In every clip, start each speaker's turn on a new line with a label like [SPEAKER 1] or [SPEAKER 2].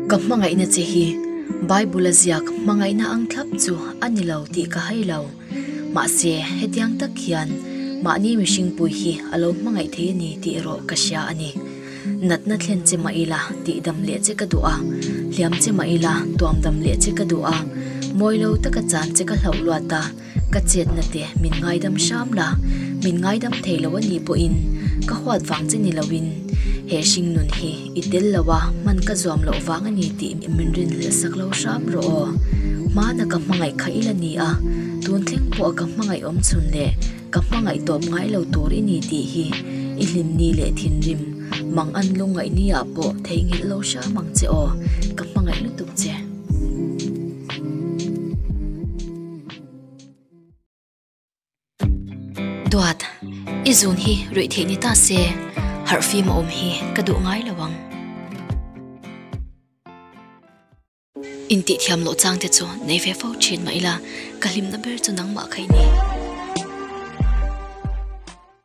[SPEAKER 1] Ka hmangaihna che hi Bible a ziak hmangaihna ang thlap chu a ni lo tih ka hai lo. Mahse, hetiang tak hian mahni mihringpui hi a lo hmangaih thei a ni tih erawh ka hria a ni. Natna thlen che mah ila tihdam leh che ka duh a, hliam che mah ila tuamdam leh che ka duh a, mawi lo taka chan che ka hlauh luat a, Ka chetna te min ngaidam hram la, min ngaidam thei lo a nih pawhin ka huat vang che ni loin he hringnun hi i tel lo a hman ka zuam loh vang a ni tih min rinhlelh sak lo hram rawh aw. Hmana ka hmangaih kha ila ni a, tun thleng pawha ka hmangaih awm chhun leh ka hmangaih tawp ngai lo tur i ni tih hi i hlinni leh thinrim mang an lungngaihni ah pawh theihnghilh lo hram ang che aw, ka hmangaih lutuk che. Duat, i zun hi ruih theih ni ta se, harh fim a awm hi ka duh ngai lo ang. Intihthiam loh chang te chu nei ve fo thin mah ila, ka hlimna ber chu nangmah kha i ni.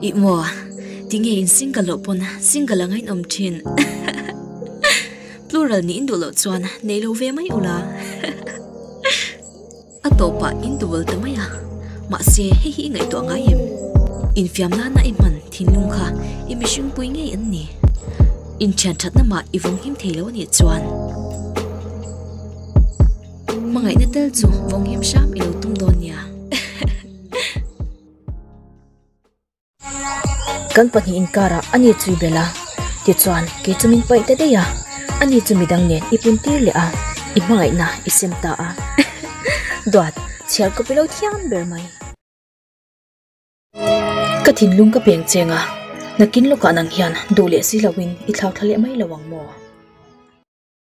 [SPEAKER 1] I maw, ti nge in single loh pawn single anga in awm thin? Plural nih in duh loh chuan nei lo ve mai ula. A tawpah in duval ta mai a, mahse hei hi i ngaihtuah ngai em? Infiam nana i hman thinlung kha i mihringpui ngei an ni. Inthian thatna mah i vawng him thei lo anih chuan. Hmangaihna tel chu vawng him hram i lo tum dawn nia. Kan pahnih in car ah ani chu i bel a, tichuan kei chu min paih ta daih a, ani chu midang nen i pun tir leh a, i hmangaihna i sem ta a hehe duat chhiar kawp ilo thiam ber mai. Ka thinlung ka peng cheng a, nakin lawkah nang hian duh leh si lo in i thlauthla leh mai lo ang maw?